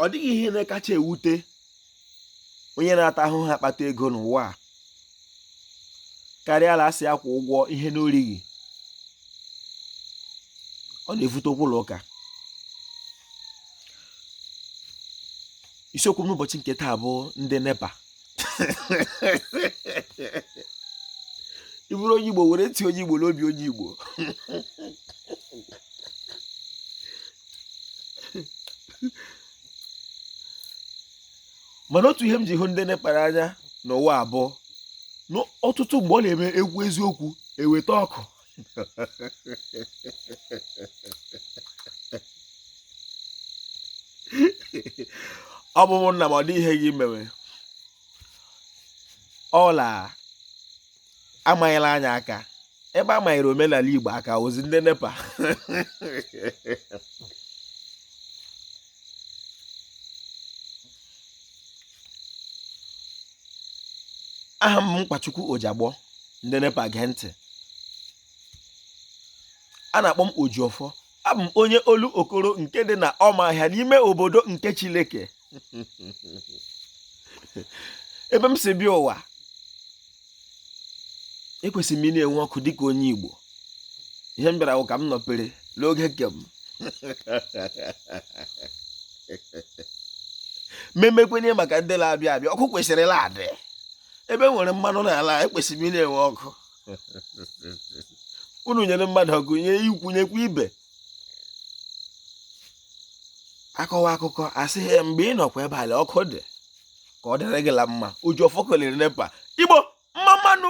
ọ dịghị ihe na-akacha ewute onye na-ata ahụhụ akpata ego n'ụwa a karịa a la-asị ya kwụọ ụgwọ ihe na o righị ọ na-evute okwu la ụka isiokwu m n'ụbọchị nke taa bụ ndị nepa ị bụrụ onye igbo were ntị onye igbo la obi onye igbo mana otu ihe m ji hụ ndị nepa la anya n'ụwa a bụ na ọtụtụ mgbe ọ la-eme e kwuo eziokwu e weta ọkụ ọ bụ ụmụnna m ọ dị ihe gị mewe ọ la-amanyere anyị aka ebe a manyere omenala igbo aka ozi ndị nepa aha m bụ nkwachukwu ojiagbọ ndị nepa gee ntị a na-akpọ m ojiọfọ abụ m onye olokoro nke dị na ọmahịa n'ime obodo nke chileke ebe m si bịa ụwa ekwesịrị m ị na-enwe ọkụ dịka onye Igbo ihe m bịara ka m nọpere n'oge nke m mmemmekwenye maka ndị la-abịa abịa ọkụ kwesịrị ị la-adị ebe e nwere mmanụ n'ala ekwesịrị m ị na-enwe ọkụ unu nyere mmadụ ọkụ nye ikwu nyekwa ibe a kọwa akụkọ a sị ya mgbe ị nọkwa ebe ala ọkụ dị ka ọ dịrị gị la mma ojiọfọ kelere nepa igbo mma mma nụ